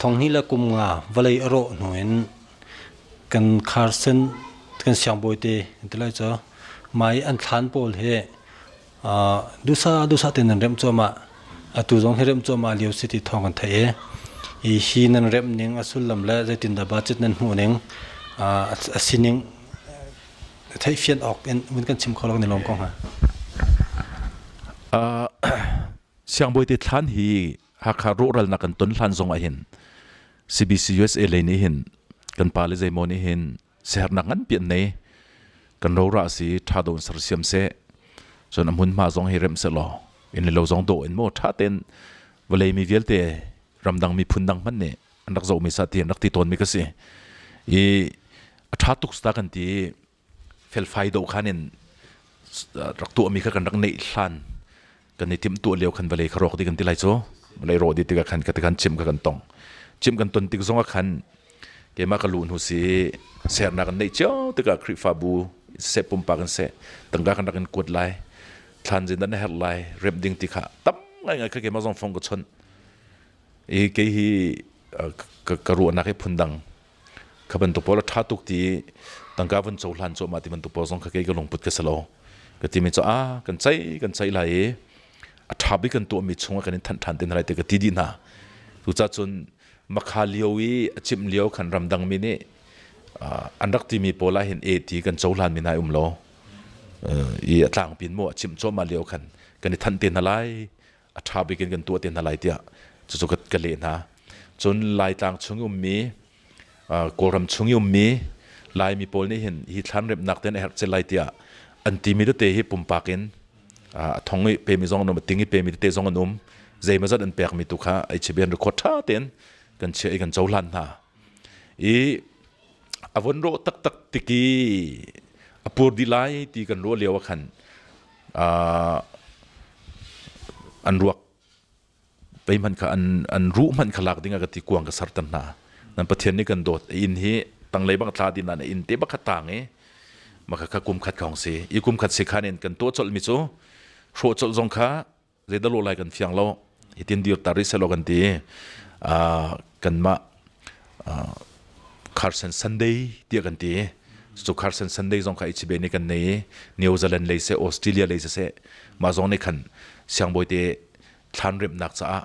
Thonghni le kum nga vawlei a rawh hnu in kan Carson kan siangbawi te an ti lai cu mai an thlan pawl hi dusa dusa te nan remh cuahmah atu zong hi remh cuahmah lio si ti thawng kan theih i hi nan remh ning a sullam le zeitindah budget nan hmuh ning a sining theihfian awk in vun kan chim kho lo kan i lawm ko hnga. Uh, siangbawi te thlan hi hakha rural na kan ton hlan zong ah hin CBC USA le ni hin kan pa le zeimo ni hin sehernak ngan pian nei kan rora si tha don sar siam se so na mun ma zong hi rem se lo in lo zong do in mo tha ten vale mi vialte ramdang mi phun dang man ne an rak zohmi sah ti an rak ti tawnmi ka si i a ṭha tuk ta kan ti felfai do khan in rak tuahmi kha kan rak neih hlan kan i timh tuah lio khan vale kha rawk di kan ti lai cu vale rawh di tikah khan ka ti khan chim ka kan tong chim kan ton tik zongah khan keimah ka lu hnu si sernak kan neih cio tikah khrihfabu se pumpa kan se tangka kan rak in kuat lai thlan zin dan herh lai rep ding ti kha tam ngai ngai kha keimah zong phong ka chon i kei hi ka ruahnak hi phundang kha bantuk pawl a ṭha tuk ti tangka vun cohlan cuahmah ti bantuk pawl zong kha kei ka lungput ka si lo ka timi cu a kan ceih kan ceih lai i a ṭha bik kan tuahmi chungah kan in thanh ṭhan te hna lai ti ka ti dih hna cucaah cun makha lio i a cimh lio khan ramdangmi nih an rak timi pawl ah hin e ti kan cohlanmi nai um lo i a tlangpin mu a cimh cuahmah lio khan kan i thanh te hna lai a ṭha bik in kan tuah te hna lai tiah cucu ka, ka leh hna. Cun Laitlang chung i ummi, Kawlram chung i ummi Laimi pawl nih hin hi thlan remhnak tein a herh cel lai tiah an timi tete hi pumpak in a thong i pemi zong an um, a ting i pemi tete zong an um. Zeimazat an pekmi tu kha ai chibi an record ṭha tein kan chiah i kan cohlan hna. I a von rawh taktak tiki a pur dih lai ti kan ruah lio ah khan an ruak pei hmanh kha an ruh hmanh kha lak ding ah ka ti kuang ka sertan hna nan pathian nih kan dawt inn hi tanglei bang thla din nan inn te bakhat tang i maka kha kum khat khong si i kum khat si khan in kan to col mi cu hro col zong kha zeidah lo lai kan fiang lo hitin dir ta ri selo kan ti kanmah Carson Sunday tiah kan ti so Carson Sunday zong kha ichibe ni kan nei New Zealand lei se Australia lei se mah zong nih khan siang boite thlan rem nak caah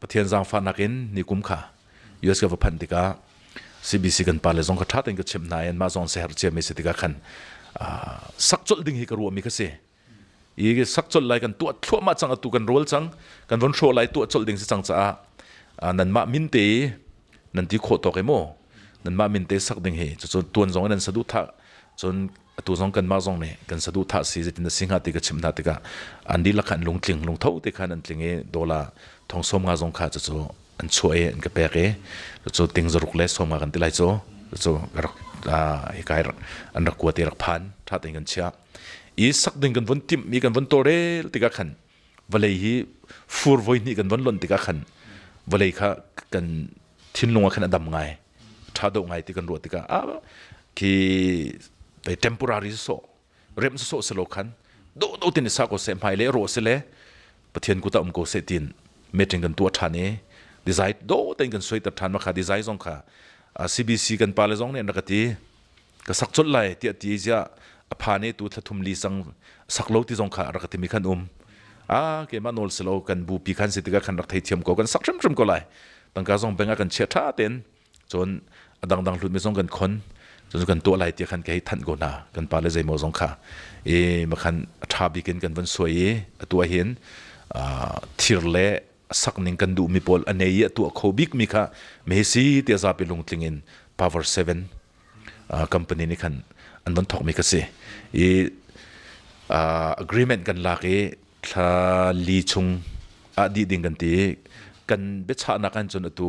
Pathian zaangfahnak in nikum kha US ka va phanh tikah CBC kan pa le zong kha ṭha tein ka chimh hna i anmah zong seher ciami si tikah khan sak colh ding hi ka ruahmi kha si i sak colh lai kan tuah thluahmah cang atu kan rawl cang kan von hrawh lai tuah colh ding si cang caah nanmah min te nan ti khawh tawk e maw nanmah min te sak ding hi cucu tuan zong in nan saduhthah cun atu zong kanmah zong nih kan saduhthah si zeitin na si hnga ti ka chimh hna tikah an dihlak khan lungtling lungtho te khan an tling i dola thongsawm nga zong kha cucu an chuah i an ka pek i cucu ting zaruk le sawm nga kan ti lai cu cucu ka rak hika an rak kuat i rak phan ṭha tein kan chiah i sak ding kan vun timh mi kan vun tawrel tikah khan vawlei hi fur voi hnih kan von lonh tikah khan vawlei kha kan thinlung ah khan a dam ngai ṭha do ngai ti kan ruah tikah a khi temporary sawh rem sawh selo khan do do tin sa ko se hmai le ro se le pathian kuta um ko se tin meeting kan tu ṭhan i design do ten kan soi ter ṭhan ma kha design zong kha CBC kan pa le zong nih an rak ti ka sak colh lai tiah ti ziah a pha nih tu thla thum li sang sak lo ti zong kha a rak ti mi khan um a keimah nawl si lo kan bu pi khan si tikah khan rak thei thiam ko kan sak hrimhrim ko lai tangka zong beng ah kan chia tha ten cun a dangdang hlut mi zong kan khon cun kan tuah lai ti khan ka hei thanh go na kan pa le zeimaw zong kha e ma khan a tha bikin kan van suai i a tua hin thir le sak ning kan duh mi pawl a nei i a tua kho bik mi kha me si te zapi lungtling in power 7 company nih khan an von thawkmi ka si i agreement kan lak i thla li chung ah dih ding kan ti kan biachahnak an cun atu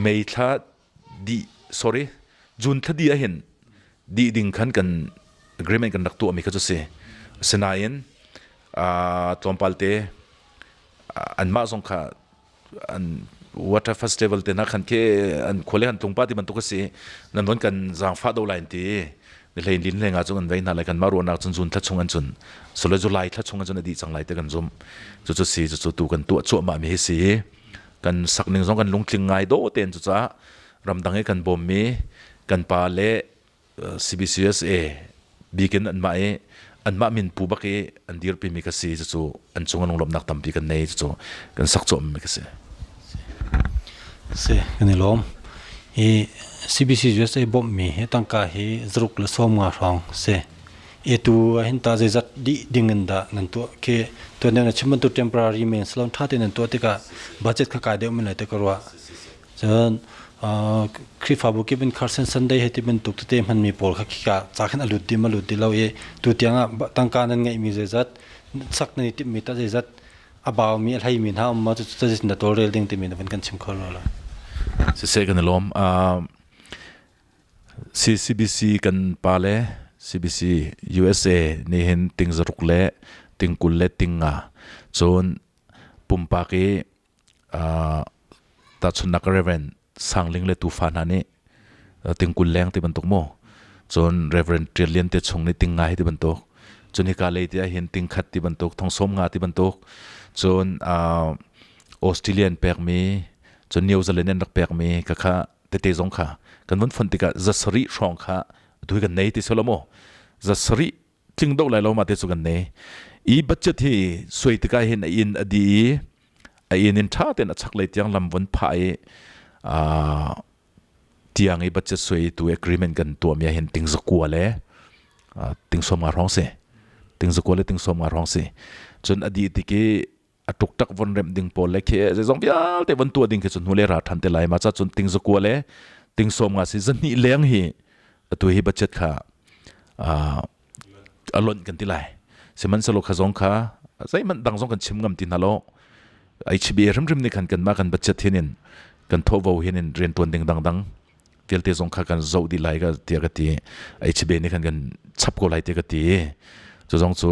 mei thla di sorry june thla di ahin di ding khan kan agreement kan rak tuahmi kha cu si asinain tlawmpal te anmah zong kha an water festival te na khan ke an khole han tlungpa ti bantuk asi nan don kan zangfa do line ti ni hlei din hleng chu an vei na lai kan ma ruanak chun zun thachung an chun sole zu lai thachung an chun adi chang lai te kan zum chu chu si chu chu tu kan tu chu ma mi hi si kan sak ning zong kan lungtling ngai do ten chu cha ramdang e kan bom mi kan pa le CBCUSA bik in anmah i anmah min pu bak i an dirpimi ka si cucu an cung lunglawmnak tampi kan nei cucu kan sak cawhmi ka si. Si kan i lawm. I CBC USA bawmmi hi tangka hi zaruk le sawm nga hrawng si. Etu hin ta zeizat di ding in da nan tuah ke tuan na chim bantu temporary men salon tha te nan tuah tikah budget kha kai deuh min lai te ka ruah. cun Khrihfabu kip in Carson Sunday he ti bantuk tete hmanmi pawl kha khika ca khin a lut dim a lut ti lo i tu tiang ah tangka nan ngeihmi zeizat sak nan i timhmi tah zeizat a baumi a hleimi hna um ma cu cazit na tawlrel ding timi na van kan chim kho lo lo siseh kan i lawm CCBC kan pa le CBC USA ni hin ting zaruk le tingkul le tinga cun pumpak i tahchunnak reverend sangling le tufa hna nih tingkul leng ti bantuk maw cun reverend ṭial lian te chung nih ting ngai ti bantuk cun hika lei ti ahhin ting khat ti bantuk thongsom nga ti bantuk cun australian pekmi cun new zealand an rak pekmi ka kha tete zong kha kan vun fon tikah zasari hrawng kha tu kan nei ti solo maw zasari tling do lai lo ma te cu kan nei i budget hi suai tika hin a in a di i a in in tha ten a chak lei tiang lam von pha i a tiang i budget suai tu agreement kan tua mi hin ting zakua le ting som nga rong si ting zakua le ting som nga rong si cun adi tiki a tuktak von remh ding pawl le khi zeizong vialte von tuah ding khi cu hnule ra than te lai ma cha cun ting zakua le ting som nga si zahni leng hi atu hi budget kha a lonh kan ti lai sihmanhselo kha zong kha zeihmanh dang zong kan chim ngam ti hna lo HB rimrim ni khan kan ma kan budget hin in kan tho hin in rian tuan ding dangdang vialte zong kha kan zo di lai ga tia ka ti HB ni khan kan chap ko lai te ka ti zu zong cu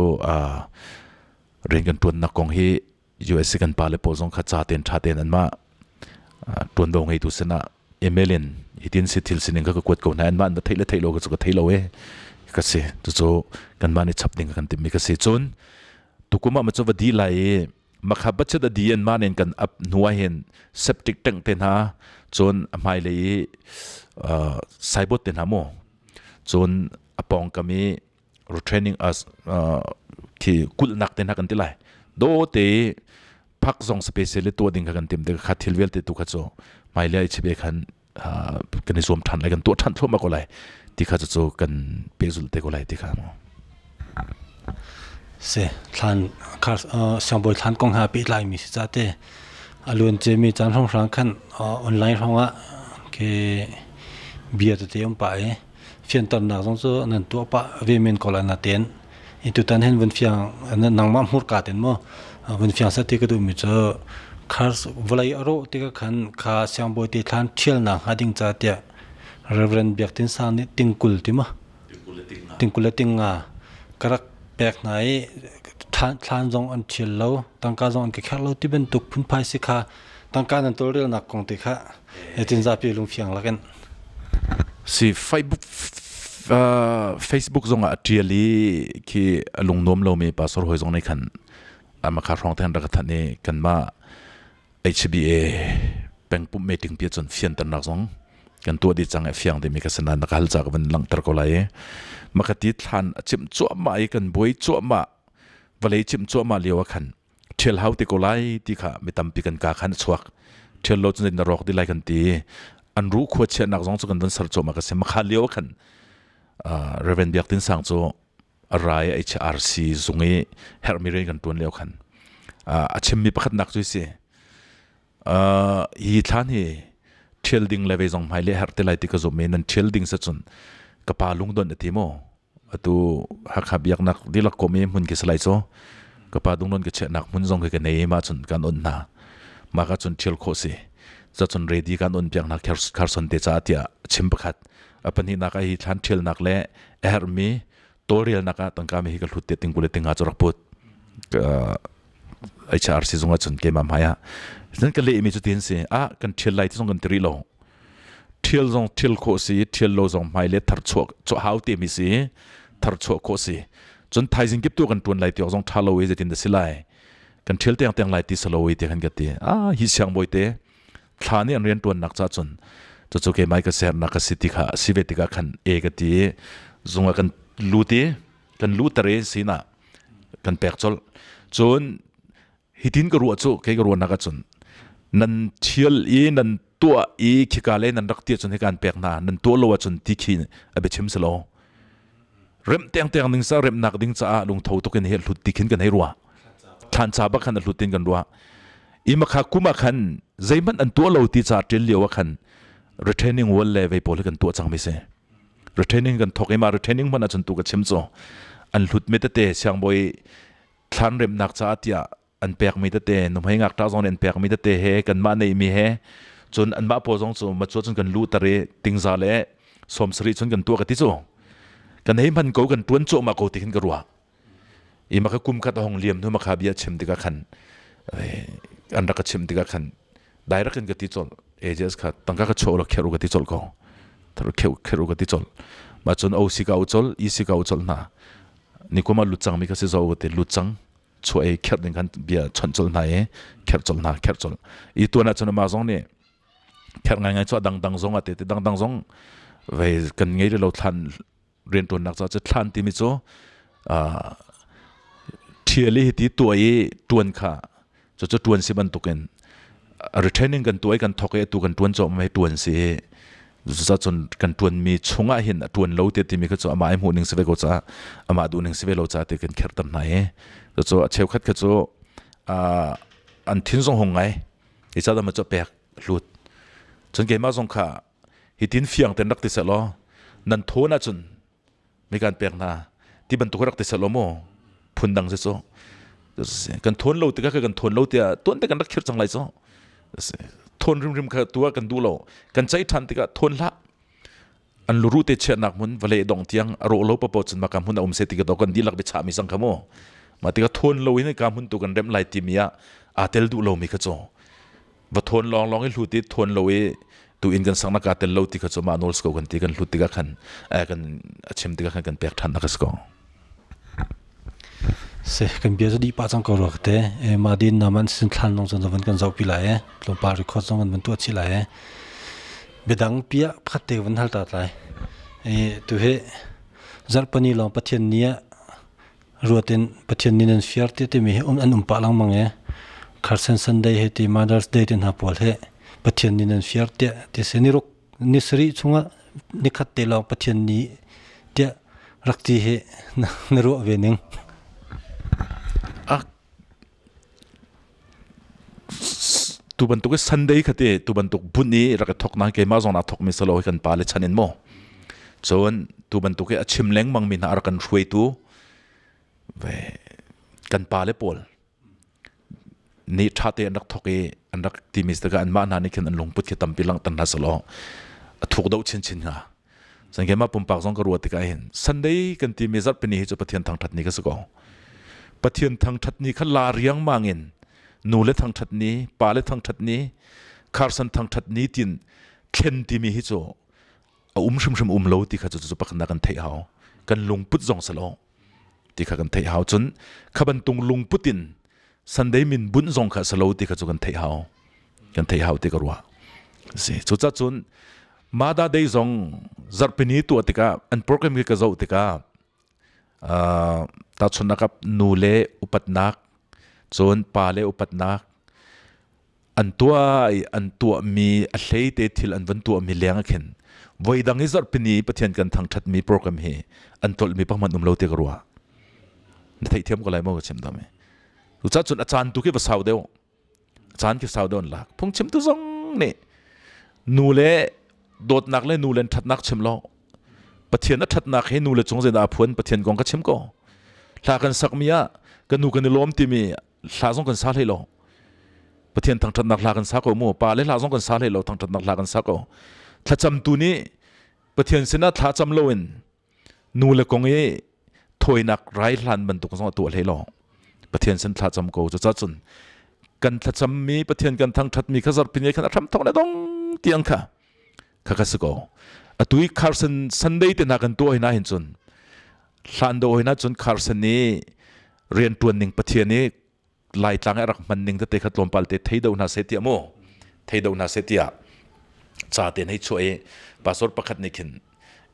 rian kan ṭuannak kong hi US i kan pale pawl zong kha ca tein ṭha tein anmah ṭuanvo ngeitu sinah email in hitin si thil sining kha ka kuat ko hna anmah an theih le theih lo ka cu ka thei lo e ka si cucu kanmah nih chap ding kan timmi ka si cun tukum ah macu va di lai i makha bachet adi an man in kan up nuwa hin septic tank te hna cun a hmai le i saibot te hna mu cun apong kami retraining as uh, thi kulnak te na kan ti lai do te phak zong specially to ding kan tim de kha thil vel te tu kha cho mai le chebe khan kan zuam than lai kan to than thoma ko lai ti kha cho kan pe zul te ko lai ti kha mo se thlan khar sambol thlan kong ha pe lai mi si cha te alun che mi chan hong hrang khan online hongwa ke bia te om pa e fianternak zong cu nan tuah pah ve men ko la na ten i tutan hen vun fiang nangma hmur ka ten mo vun fiang sa ti ka du mi chu khars volai aro ti ka khan kha siang boi te thlan thial na ha ding cha tia reverend biak tin sang ni tingkul ti ma tingkul ting nga karak pek na i thlan zong an thial lo tangka zong an ka kher lo ti ben tuk phun phai si kha tangka nan tol rel nak kong te kha Hitin zapi lungfiang lakin si Facebook uh, Facebook zong ah tial i khi lungnuam lomi pastor hoi zong nei khan ama kha rong ten rak than ni kanma HBA pengpum meeting pi chun fian tan nak zong kan tua di chang e fiang de mi ka sana na kal chak van lang tar ko lai ma ka ti thlan chim chuah ma i kan boi chuah ma vale chim chuah ma liawa khan ṭhial hau te ko lai ti kha mi tampi kan kaa khan a chuak. Ṭhial lo cu na rawk ti lai kan ti. An ruh khua chiahnak zong cu kan von ser cawm a ka si. Makha lio khan Reverend Biak Tin Sang cu a rai HRC zung i herhmi rian kan ṭuan lio khan a chimmi pakhatnak cu si. hi thlan hi ṭhial ding le ve zong hmai le herh te lai ti ka zum i nan ṭhial ding se cun ka pa lungdon a ti maw? atu hakha biaknak dilak kom e hmun ki salai cho ka pa dungnon ke che nak hmun zong ke nei ma chun kan on na ma ka chun thil kho si za chun ready kan on piak na kharson te cha tia chim pakhat apani na ka hi thlan thil nak le er mi tolrial na ka tangka mi hi ka hlut te tingkule tinga chorak put HRC zung ahcun keimah hmaiah nan ka lehmi cu ti an si ah kan ṭhial lai ti zong kan ti rih lo ṭhial zong ṭhial khawh si ṭhial lo zong hmai le thar chuah chuah hau temi si thar chuah khawh si cun thaizing kip tu kan ṭuan lai tiawk zong ṭha lo e zeitin da si lai kan ṭhial tiang tiang lai ti salo e ti kan ka ti ah hi siang bawi te thla nih an rian ṭuannak ca cun cucu keimai ka sernak ka si ti kha si ve tikah khan e ka ti zung a kan lut i kan luter i sinah kan pek colh cun hitin ka ruah cu kei ka ruahnak ahcun nan thial i nan tuah i khika le nan rak ti ahcun hikan pek hna nan tuah lo ahcun ti khi a biachim si lo rem tengteng ning sa remnak ding caah lungtho tukin hi hlut ti khin kan hei rua thancha ba khan hlut tin kan rua ima kha kuma khan zeihmanh an tuah lo ti ca ṭil lio a khan retraining wall le vei pawl hi kan tuah cang mi si retraining kan thok i ma retraining hman ahcun tu ka chim cu an hlut me tete siangbawi thlan remnak caah tiah an pek mi tete numhei ngak ta zong an pek mi tete he kan mah nei mi he cun an mah po zong cu ma chu cun kan lu tar i tingza le som sari chun kan tua ka ti chu kan hei man ko kan tuan cho ma ko ti hin ka ruah i maka kum khat hong liam hnu maka bia chim tikah khan an rak ka chim tikah khan direct in ka ti chol ages kha tangka ka chho la kheru ka ti chol ko thar kheu kheru ka ti chol ma chun o si ka u chol i si ka u chol na ni kuma lut chang mi ka si zo te lut chang chu e kher ding khan bia chon chol na e kher chol na kher chol i tu na chun ma zong ni kher ngai ngai cho dang dang zong ate te dang dang zong ve kan ngei lo than riantuannak caah cu thlan timi cu ṭhial hi ti tuah i ṭuan kha cucu ṭuan si bantukin retraining kan tuah i kan thawk i tu kan ṭuan cawh mai ṭuan si i cucaah cun kan ṭuanmi chungah hin a ṭuan lo tiah timi kha cu amah i hmuh ning si ve ko ca amah duh ning si ve lo ca ti kan kherter hna i cucu a cheukhat kha cu an thin zong hung ngai i ca dama cu pek hlut cun keimah zong kha Hitin fiang ten rak ti seh law, nan thawn ahcun mi kan pek hna ti bantuk rak ti seh law maw phun dang si cu kan thawn lo tikah kan thawn lo tiah tuan te kan rak khir cang lai cu thawn rimrim kha tua kan duh lo kan caih ṭhan tikah thawn hlah an luru te chiahnak hmun vale dong tiang a ro lo papo cun maka hmun a um se ti ka to kan dilak bi cha mi sang khamu ma tikah thawn lo in ka hmun tu kan rem lai ti mi ah a tel duh lo mi kha cho va thawn lawng lawng i hlut i thawn lo i tu in kan sang na ka tel lo ti kha chu ma nawl ko kan ti kan hlut tikah khan kan a chim tikah khan kan pek than nak ko se kan bia di pa chang ko ro te e ma din na man sin thlan long chan zavan kan zau pi lai e lo pa record zong an man tu chi lai e bedang pia khatte wan hal ta tlai e tu he zarpani long pathian nia ruat in Pathian nih nan fiar te timi hi um an um pah lengmang e Carson Sunday he ti Mother's Day ti hna pawl he Pathian nih nan fiar te ti se ni ruk ni sari chungah ni khat te lawng Pathian ni tia rak ti he na ruah ve ning tu bantuk i sunday khate tu bantuk bunh i rak i thok na keimah zong na thokmi salo hi kan pa le chan in mo cun tu bantuk i a chim lengmang mi hna a rak kan hruaitu ve kan pa le pawl ni tha te an rak thok i an rak ti mi saka an mah hna nih khin an lungput khi tampi lang tan hna salo a thuk do chin chin nga Chan ke ma pumpak zong ka ruat tikah hin Sunday kan ti mi zarh pini hi cu Pathian thangthat ni ka si ko. Pathian thangthat ni kha la riang mang in nu le thangthat ni, pa le thangthat ni, kharsan thangthat ni tin thlen ti mi hi cu a um hrimhrim um lo ti kha cu cu pakhna kan theih hau. Kan lungput zong salo ti kha kan theih hau cun kha bantung lungput in sunday min bunh zong kha salo ti kha cu kan theih hau kan theih hau ti ka ruah si cuca cun mada day zong zarpini tuah tikah an program ke ka zoh tikah ta chunakap nu le upatnak cun pa le upatnak an tuah i an tuahmi a hleite thil an van tuahmi leng ah khin voidang i zarhpini pathian kan thangthatmi program hi an tlolhmi pahman um lo ti ka ruah na theihthiam ko lai maw ka chim dam i tu cha cun a caan tu khi va sau deuh a caan khi sau deuh an lak phung chim tu zong nih nu le dawtnak le nu le thatnak chim lo pathian a thatnak hi nu le cung zeidah a phuan pathian kong ka chim ko hla kan sakmi ah ka nu kan i lawm timi hla zong kan sa hlei lo pathian thangthatnak hla kan sa ko mu pa le hla zong kan sa hlei lo thangthatnak hla kan sa ko thlacam tu nih pathian sinah thla cham lo in nu le kong i thoinak rai hlan bantuk zong atu hlei lo pathian sin thla cham ko cu cun kan thlacam mi pathian kan thangthat mi kha zarh pin khan a ram thok le dong tiang kha kha ka si ko atu i kharsen sunday te na kan tuah hina hin cun hlan do hina cun kharsen i rian tuan ning pathian i laitlang i rak man ning te kha tlawmpal te thei do hna se tia mu thei do hna se tia cha te nei chuai password pakhat ne khin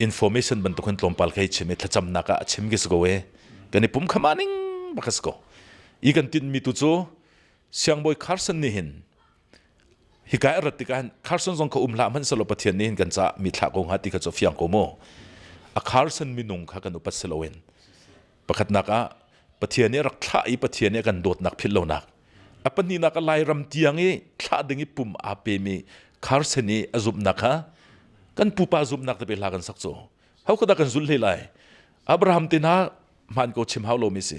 information ban tukhan tlawmpal kai chim e thlacham na ka chim gi sko e kan pum khama ning bakas ko i kan tin mi tu chu siang boy carson ni hin Hika i rat tikah Carson zong kha um hlah hmanhsehlaw Pathian nih hin kan caah mitthla ko hnga ti kha cu fiang ko mu. A Carson minung kha kan upat si loin pakhatnak ah Pathian nih rak thlah i Pathian nih a kan dawtnak philh lonak a pahnihnak a Lairam tiang i thlah ding i pum aa pemi Carson i a zumhnak kha kan pupa zumhnak te pe hla kan sak cu. Ho kha dah kan zulh hlei lai? Abraham te hna hmaan ko chim hau lomi si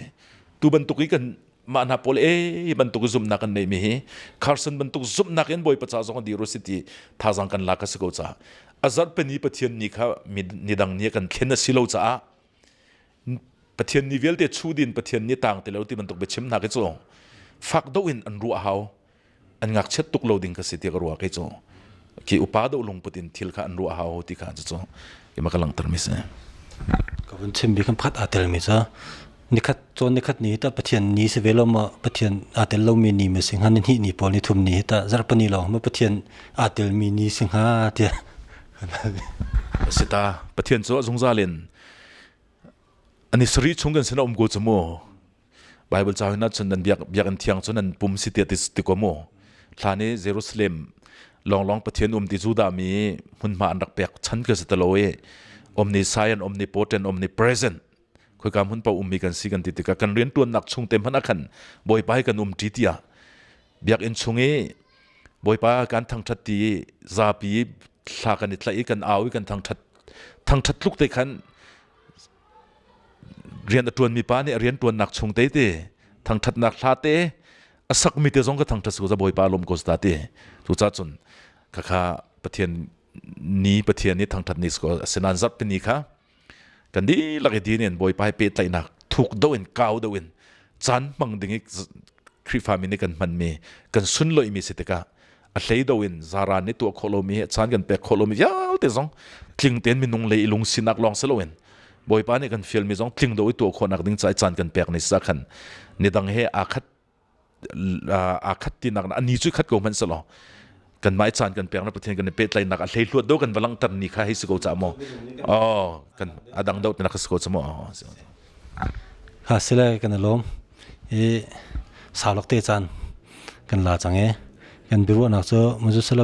tu bantuk i kan mah hna pawl e bantuk zumnak kan neimi hi Carson bantuk zumnak in bawi pacha zong dir si ti thazang kan la ka si ko ca azarpeni pathian ni kha ni dang ni kan thlen a si lo caah pathian ni vialte chu din pathian ni tang te lo ti bantuk biachim hna ke cu fak do in an ruah hau an ngakchiat tuk lo ding ka si tiah ka ruah khi cu ki upa do lungput in thil kha an ruah hau ti kha cu ima ka langter mi si ka vun chim bi kan phat a tel mi cha nikhat chon nikhat ni ta pathian ni se velo ma pathian a tel lo mi ni ma sing han ni ni pol ni thum ni ta zarpani lo ma pathian a tel mi ni sing ha tia sita pathian chu zungzalen ani sri chung gan sina um go chumo Bible ca huna chun nan biak biakin thiang cun nan pum si tiah ti ko mu thlan i Jerusalem longlong pathian um ti zu da mi hmunhma an rak pek chan ka se talo i omni science omni potent omni present khoi kam hun pa ummi kan si kan ti tika kan rian tuan nak chung te man akhan boipa kan um ti tia biak in chung i boipa kan thang that ti zapi thla kan i tlai kan au i kan thang that thang that tluk te khan rian a ṭuanmi pa nih a rianṭuannak chung tete thangṭhatnak hla te a sakmi te zong ka thangṭhat su za bawipa lawm ko ta te cucah cun khakha pathian ni pathian ni thangṭhat ni a si nan zarhtini kha kan dihlak i din in bawipa he pehtlaihnak thuk do in kau do in caan hmang ding i Khrihfa mi nih kan hmanmi kan sunloihmi si tikah a hleido in zara nih tuah khawh lomi a chan kan pek khawh lomi vialte zong tling tein minung le i lung sinak lawng si loin bawipa nih kan fialmi zong tling do i tuah khawhnak ding ca i caan kan pek ni sa khan nidang he aa khat aa khat tinak ani cu khat ko hmanh selaw kanmah caan kan pek na pathian kan pehtlaihnak a hlei hluat do kan va langhter ni kha hei si ko ca maw oh kan adang dau tina ka si ko ca maw Ha sile kan i lawm i salok te caan kan la cang i kan biaruahnak cu muzusala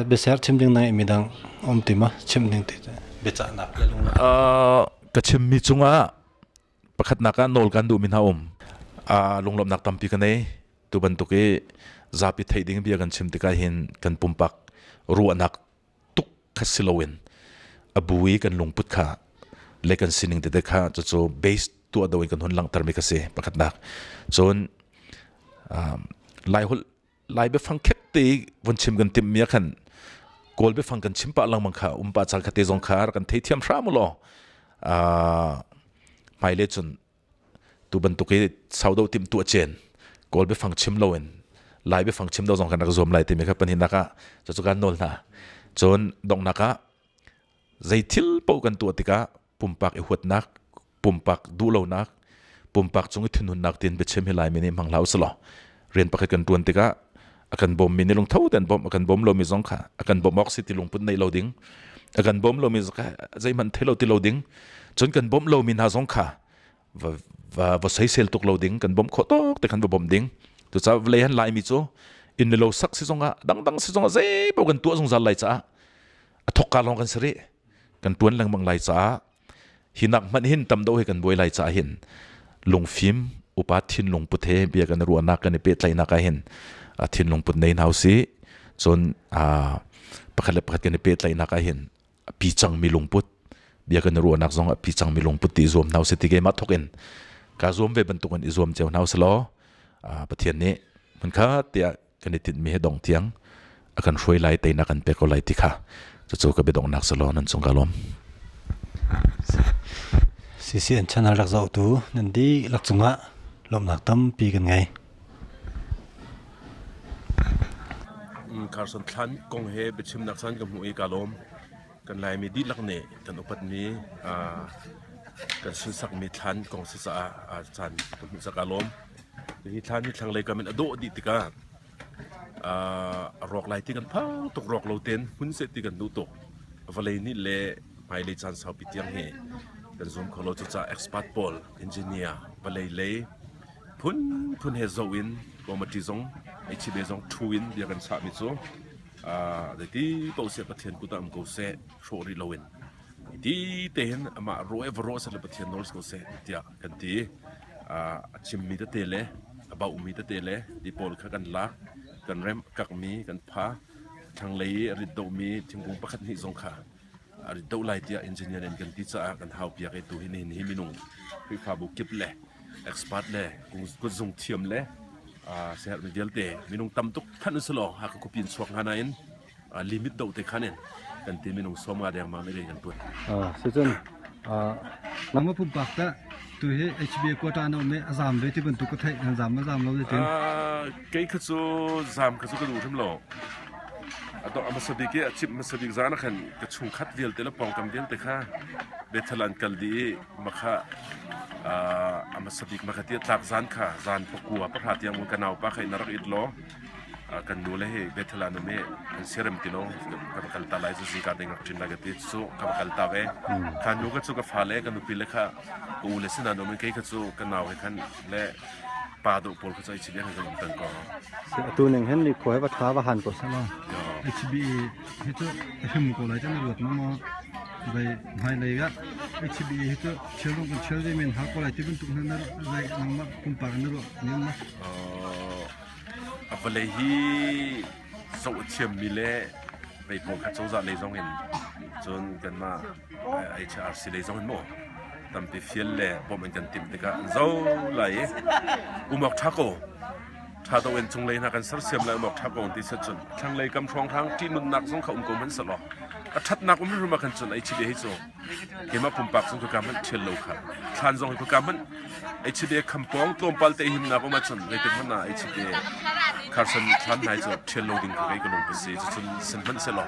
biaser chim ding nang midang um ti ma chim ding ti biacahnak le lungla ka chimmi cungah pakhatnak ah nawl kan duhmi hna um lunglawmhnak tampi ka nei tu bantuk i zapi theih ding bia kan chim tikah hin kan pumpak ruahnak tuk kha si loin a bu i kan lungput kha le kan sining tete kha cucu base tuah do in kan hun langhtermi kha si pakhatnak cun lai holh lai biafang khette von chim kan timmi ah khan kawl biafang kan chim pah langmang kha um pa chal khate zong kha rak kan thei thiam hram lo a hmaile cun tu bantuk i saudawh tim tuah cen kawl biafang chim lo in lai biafang chim do zong kan rak zuam lai timi kha pahnihnak ah cu kan nawl hna cun donghnak ah zei thil po kan tuah tikah pumpak i huatnak pumpak duhlonak pumpak cung i thunhunnak tin biachim hi lai mi nih hmang hlah usih law rian pakhat kan tuan tikah akan bom mi ni lung tho den bom akan bom lo mi zong kha akan bom ok si ti lung pun nei lo ding akan bom lo mi zong zei man thelo ti lo ding chon kan bom lo mi na zong kha va va va sei sel tuk lo ding kan bom kho tok te kan va bom ding to cha vlei han lai mi chu in lo sak si zonga dang dang si zonga zei bo kan tu zong zal lai cha athokka long kan sari kan tuan lang mang lai cha Hi nak hmanh hin tam deuh he kan buai lai caah hin lungfim upa thinlung put he bia kan ruahnak kan i pehtlaihnak ah hin thinlung put nei hna si cun pakhat le pakhat kan i pehtlaihnak ah hin pi cang mi lungput bia kan ruahnak zong a pi cang mi lungput ti zuam hna si ti ke ma thok in ka zuam ve bantuk in i zuam ceo hna selaw Pathian nih mun kha tiah kan i tinhmi hi dong tiang a kan hruai lai teinak kan pek ko lai ti kha cucu ka biadongnak salo nan cung ka lawm CCN channel rak zohtu nan di lak cungah lawmnak tampi kan ngei Carson thlan kong he biachim nak san ka mu i ka lawm kan Laimi dihlak nih kan upatmi kan sunsakmi thlan kong si caah caan kan hmuh sak aa lawm. Hi thlan hi thlanglei kam in a dawh dih tikah a rawk lai ti kan phang tuk rawk lo ten hmun seh ti kan duh tuk. Vawlei nih le hmailei caan saupi tiang hi kan zum kho lo cucaah expert pawl engineer vawlei lei phunphun he zoh in Komati zong HCD zong thu in bia kan sahmi cu Zeiti paoh seh Pathian kut ah um ko seh, hrawh rih loin ti tein amah rawh le va rawh seh le Pathian nawl si ko seh tiah kan ti. Uh, a chimmi tete le a baumi tete le ti pawl kha kan lak, kan remh, kakmi kan pha, thlanglei i a rit domi thingkung pakhat hnih zong kha a rit deuh lai tiah engineer in kan ti caah kan hau piak i tuhin hin hi minung Khrihfabu kip le expert le kutzung thiam le siherhmi vialte minung tam tuk thanh si law haka khupi in chuak hnga nain limit do te khan in kan ti minung som nga dengmang le kan tuan secun lama pumpak ta tu hi HBA quota no me azam ve ti bantuk ka thai nan zam azam lo le tin Kei kha cu zaam kha cu ka duh hrim lo. A dawh a hmasa bik i a cimh hmasa bik zan ah khan ka chungkhat vialte le pawngkam vialte kha Bethel ah an kal dih i makha uh, a hmasa bik makha ti tlak zan kha zan pakua pahra tiang ka naupa kha in rak it law kan nu le he Bethel an um i an serem ti lo ka va kal ta lai zu zingka ding rak chin lai ka ti cu ka va kal ta ve kha nu ka cu ka fa le ka nupi le kha ka u le sin an um i kei kha cu ka nau he khan le pa do pawl khu chai chibian zan tan ko se atu ning hen li khoi va tha va han ko sala hbi hi tu him ko lai jan ruat ma ma bai mai lai ga hbi hi tu chel ron kan chel de men ha ko lai tibin tuk nan rai nang ma kum par na ro nen ma apale hi so chiam mi le bei pong kha choza le zong in chun kan ma ai ṭha arsi lei zong in maw tampi fial le bawmh in kan timh tikah an zo lai i umawk ṭha ko ṭha do in cunglei hna kan sersiam lai umawk ṭha ko ti set cun thlanglei kam hrawnghrang ṭi nunnak zong kha um ko hmanh seh law a ṭhatnak um rum ah kan cun ai chide hei cu keimah pumpak zong ka hmanh ṭhial lo kha thlan zong ka hmanh ai chide khampong tlawmpal te himnak um cun ngei te hmana ai chide kharsan thlan nai cu ṭhial lo ding ka kai ka lung pasi cun sen hmanh se law